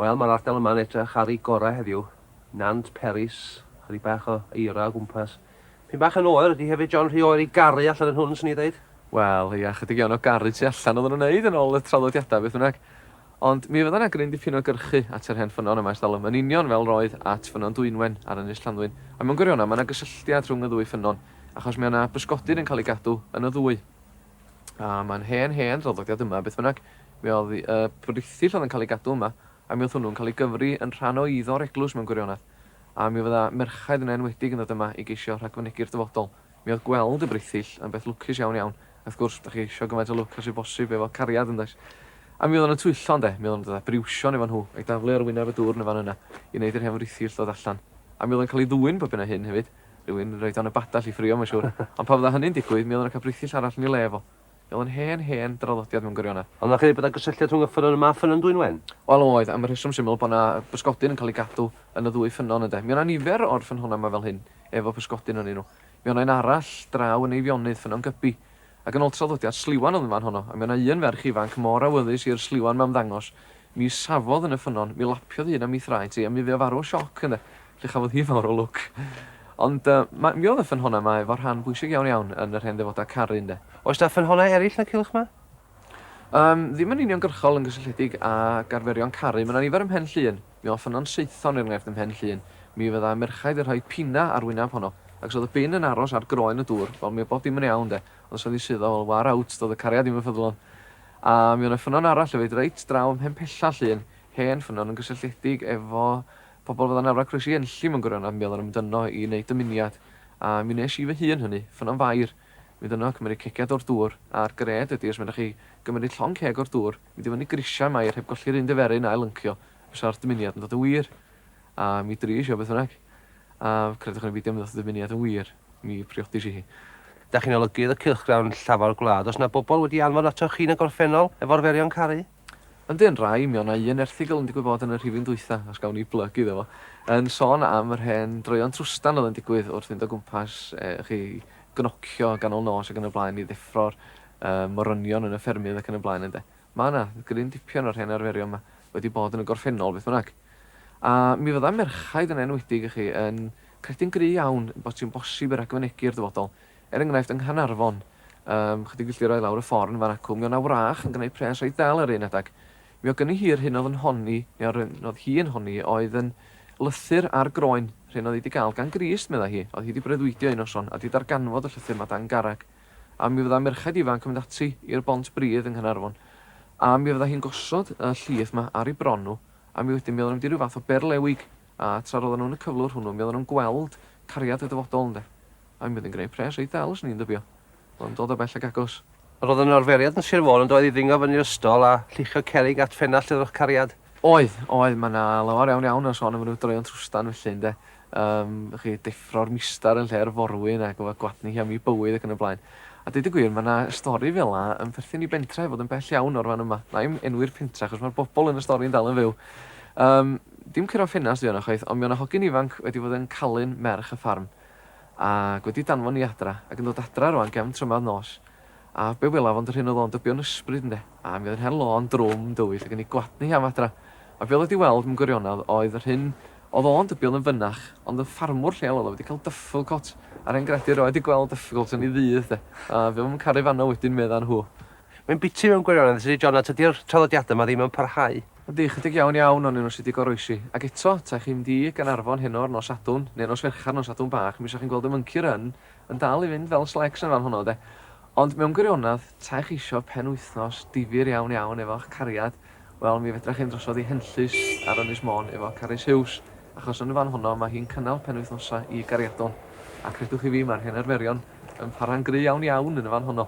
Wel, mae'r ardal yma yn edrych ar ei gorau heddiw. Nant Peris, chydig bach o eira o gwmpas. Pyn bach yn oer ydy hefyd, John, rhy oer i garu allan yn hwn, swn i'n dweud. Wel, ia, chydig iawn o garu tu allan oedden nhw'n wneud yn ôl y traddodiadau, beth bynnag. Ond mi fydda 'na gryn dipyn o gyrchu at yr hen ffynnon yma ers talwm, yn union fel roedd at Ffynnon Dwynwen ar Ynys Llanddwyn. A mewn gwirionedd, mae 'na gysylltiad rhwng y ddwy ffynnon, achos mi oedd 'na bysgodyn yn cael ei gadw yn y ddwy. A mae'n hen, hen draddodiad yma, beth bynnag. Mi oedd y briffyll oedd yn cael ei gadw yma, a mi oedd hwnnw'n cael ei gyfri yn rhan o eiddo'r eglwys mewn gwirionedd. A mi fydda merchaid yn enwedig yn dod yma i geisio rhagfynegu'r dyfodol. Mi oedd gweld y briffyll yn beth lwcus iawn, iawn. A wrth gwrs, dach chi eisiau gymaint o lwc â sydd bosib efo cariad, yndoes? A mi oedden nhw'n twyllo, ynde? Mi oedden nhw'n dod â briwsion efo nhw, a'i daflu ar wyneb y dwrn yn fan yna, i wneud i'r hen friffyll ddod allan. A mi oedd o'n cael ei ddwyn bob hyn a hyn, hefyd. Rhywun roi dan y badell i ffrio, mae'n siwr. Ond pan fydda hynny'n digwydd, mi oedden nhw'n cael brithyll arall yn ei le fo. Mi oedd o'n hen, hen draddodiad mewn gwirionedd. Ond na chredu bod yna gysylltiad rhwng y ffynnon yma a ffynnon Dwynwen? Wel, oedd, am y rheswm syml bod yna bysgodyn yn cael ei gadw yn y ddwy ffynnon, ynde. Mi oedd yna nifer o'r ffynhonnau yma fel hyn, efo pysgodyn ynnyn nhw. Mi oedd yna un arall draw yn Eifionydd, Ffynnon Gybi. Ac yn ôl traddodiad, sliwan oedd yn fan honno, a mi oedd yna un ferch ifanc mor awyddus i'r sliwan 'ma ymddangos, Mi safodd yn y ffynnon, mi lapiodd un a mi thraed hi, a mi fu o farw o sioc yna, lle chafodd hi fawr o lwc. Ond yy, mi oedd y ffynhonnau yma efo rhan bwysig iawn iawn yn yr hen ddefodau caru, ynde? Oes 'na ffynhonnau eraill na Cilch Ma? Yym, ddim yn uniongyrchol yn gysylltiedig ag arferion caru. Mae 'na nifer ym Mhen Llŷn. Mi oedd Ffynnon Saethon, er enghraifft, ym Mhen Llŷn. Mi fydda' merchaid yn rhoi pina ar wyneb honno, ac os oedd y bin yn aros ar groen y dŵr, wel, mi oedd bob dim yn iawn, 'de. Ond os oedd hi suddo, wel, war out, doedd y cariad ddim yn ffyddlon. A mi o' 'na ffynnon arall efyd reit draw ym Mhenpella, llun hen ffynnon yn gysylltiedig efo pobl fel arnafla croesi Enlli mewn gwirionedd, a mi oeddan nhw'n mynd yno i wneud dymuniad, a mi wnes i fy hun hynny, ffynnon fair, mynd yno, cymeryd cegiad o'r dŵr, a'r gred ydi os menach chi gymeryd llong ceg o'r dŵr, mynd i fyny grisiau Mair heb golli'r un diferyn a'i lyncio, fysa'r dymuniad yn dod yn wir. A mi dries i o beth bynnag. A credwch neu beidio mi ddoth y dymuniad yn wir. Mi priodis i hi. Dach chi'n olygydd y cylchgrawn llafar gwlad, oes 'na bobl wedi anfon atoch chi yn y gorffennol efo arferion caru? Yndi yn rhai, mi o' 'na un erthygl yn digwydd bod yn y rhifyn dwytha, os gawn ni blyg iddo fo, yn sôn am yr hen droeon trwstan oedd yn digwydd wrth fynd o gwmpas chi gnocio ganol nos ac yn y blaen i ddeffro'r morynion yn y ffermydd ac yn y blaen ynde. Ma' 'na gryn dipyn o'r hen arferion 'ma wedi bod yn y gorffennol beth bynnag. A mi fydda merchaid yn enwedig i chi yn credu'n gry' iawn bod hi'n bosib i ragfynegi i'r dyfodol. Er enghraifft, yng Nghanarfon, yym, chydig filltiroedd lawr y fforn fan acw, mi o' 'na wrach yn gneud pres reit ddel yr un adag. Mi o' gynni hi'r hyn o'dd yn honi, neu yr hyn o'dd hi yn honi, oedd yn lythyr ar groen, rhyn o'dd hi 'di ga'l gan Grist, medda hi, o'dd hi 'di breuddwydio un noson, a 'di darganfod y llythyr 'ma dan garreg. A mi fydda merchaid ifanc yn mynd ati i'r Bont Bridd yng Nghanarfon, a mi fydda hi'n gosod y llith 'ma ar 'i bron nhw, A mi wedyn mi oedden nhw'n mynd i ryw fath o berlewig, a tra roedden nhw yn y cyflwr hwnnw mi oedden nhw'n gweld cariad y dyfodol ynde. A mi oedd hi'n gwneud pres reit ddel, 'swn i'n dybio. Oedd o'n dod o bell ac agos. Roedd yna arferiad yn Sir Fôn yndoedd i ddringo fyny'r ystol a lluchio cerrig at ffenast y Drychcariad? Oedd, oedd, mae 'na lawer iawn iawn o sôn am ryw droeon trwstan felly ynde. Yym, y'ch chi, deffro'r mistar yn lle'r forwyn a gofod gwadnu hi am ei bywyd ac yn y blaen. A deud y gwir, mae 'na stori fel 'na yn perthyn i bentre' heb fod yn bell iawn o'r fan yma. Wna i'm enwi'r pentre' achos mae'r bobl yn y stori yn dal yn fyw. Yym, dim curo ffenast ydy hwnna chwaith, ond mi o' 'na hogyn ifanc wedi bod yn calu'n merch y ffarm ac wedi danfon hi adra ac yn dod adra rŵan gefn trymadd nos. A be welaf ond yr hyn oedd o'n dybio'n ysbryd, ynde? A mi oedd yn her lôn drwm dywyll ac yn ei gwladnu hi am adra. A be oedd o wedi weld, mewn gwirionedd, oedd yr hyn oedd o'n dybio oedd yn fynach, ond yn ffarmwr lleol oedd o wedi cael dyfflgôt, a'r hen gredu erioed wedi gweld dyfflgôt yn ei ddydd, 'de? A fe oedd yn caru fanno wedyn, medda nhw. Mae'n biti mewn gwirionedd, Syr John, a tydi'r traddodiadau yma ddim yn parhau. Yndi, ychydig iawn iawn onyn nhw sy wedi goroesi. Ac eto, ta chi'n mynd i Gaernarfon heno ar nos Sadwrn, neu nos Fercher, nos Sadwrn Bach, mi 'sa chi'n gweld y mwnci run, yn dal i fynd fel slecs yn fan honno de. Ond mewn gwirionedd, ta ych isio penwythnos difyr iawn iawn efo'ch cariad, wel mi fedrach hyn drosodd i Henllys ar Ynys Môn efo Carys Huws, achos yn fan honno mae hi'n cynnal penwythnosau i gariadon, a credwch chi fi mae'r hen arferion yn para'n gry iawn iawn yn fan honno.